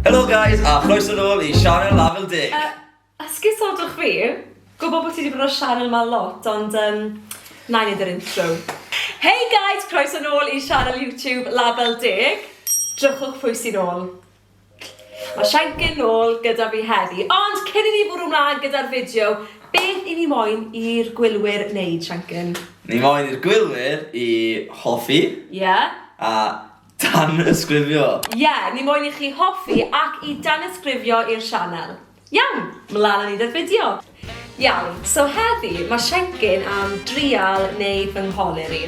Helo guys, a chroeso nôl i Sianel Lafel Deg. Uh, Esgusodwch fi, gwybod bod ti wedi bod o'r sianel yma lot, ond um, na i wneud yr intro. Hey guys, croeso nôl i sianel YouTube Label Deg. Drychwch pwy sy'n ôl. Mae Shanker nôl gyda fi heddi, ond cyn i ni fwrw mlaen gyda'r fideo, beth i ni moyn i'r gwylwyr wneud, Shanker? Ni moyn i'r gwylwyr i hoffi... Ie. ...a danysgrifio. Ie, ni moyn i chi hoffi ac i danysgrifio i'r sianel. Iawn, mlan a ni da fideo! Iawn, so heddi mae Siencyn am drial neu fy ngholir i.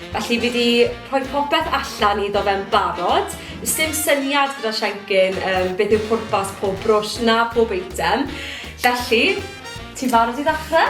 Felly fi di rhoi popeth allan iddo fe'n barod. Does dim syniad gyda Siencyn um, beth yw pwrpas pob brwsh na pob eitem. Felly, ti'n barod i ddechrau?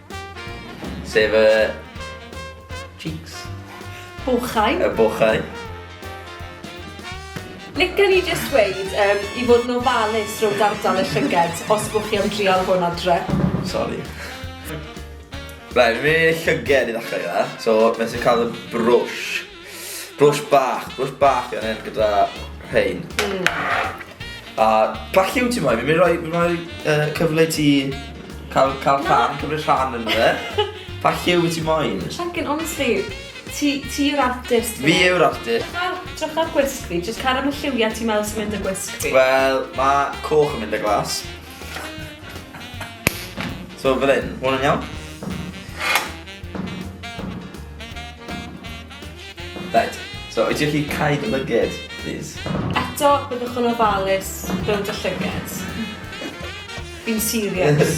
Sef y... cheeks? Bochau. Y bochau. Lica ni jyst dweud um, i fod yn ofalus rhwng dardal y llyged os bwch chi am drial hwn adre. Sorry. Right, mae llyged i ddechrau gyda. So, mae'n sy'n cael y brwsh. Blush bach, blush bach yn hyn gyda rhain. Mm. A pa lliw ti moyn? Fi'n mynd rhoi, rhoi uh, cyfle i ti cael, cael rhan, cymryd rhan yn fe. Pa lliw wyt ti moyn? Llangen, honestly, ti, ti yw'r artist. Fi yw'r artist. Drych ar gwisg fi, jyst car am y lliwiau ti'n meddwl sy'n mynd â gwisg fi. Wel, mae coch yn mynd â glas. So fel hyn, hwn yn iawn? Right, so wyt ti'n chi cael dy lyged, please? Eto, byddwch yn ofalus mewn dy llyged. Fi'n serious.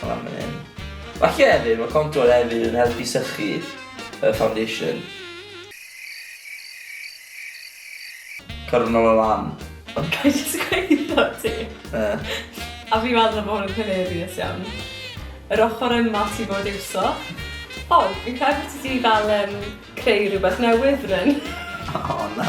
Fel arfer yn. Falle hefyd, mae contwr hefyd yn helpu sychu y foundation. Cyrraedd nol o lan. Ond gai jyst gweud wrtho ti? Yy. A fi'n meddwl bod hwn yn hilarious iawn. Yr ochr yma ti fod iwso. O, fi'n credu bod ti 'di fel yym creu rhywbeth newydd, Bryn. O na.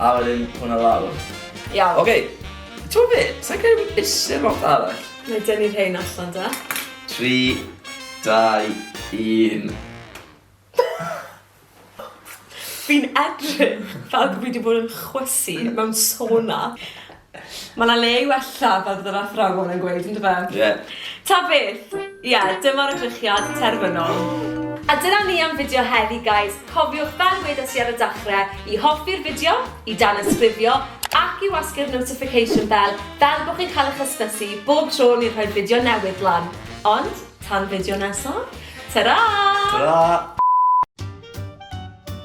A wedyn hwnna lawr. Iawn. Oce, t'mod be', sai'n credu bod isie lot arall. Nai dynnu rhein allan de. Tri, dau, un. Fi'n edrych fel bo' fi 'di bod yn chwysu mewn sona. Mae 'na le i wella, fel bydd yr athrawon yn gweud, yn dyfa? Ie. Yeah. Ta beth! Ie, yeah, dyma'r edrychiad terfynol. A dyna ni am fideo heddi, guys. Cofiwch, fel wedes i ar y dachrau, i hoffi'r fideo, i danysgrifio, ac i wasgu'r notification bell, fel bod chi'n cael eich hysbysu bob tro ni'n rhoi fideo newydd lan. Ond, tan fideo nesaf, ta-ra! Ta-ra!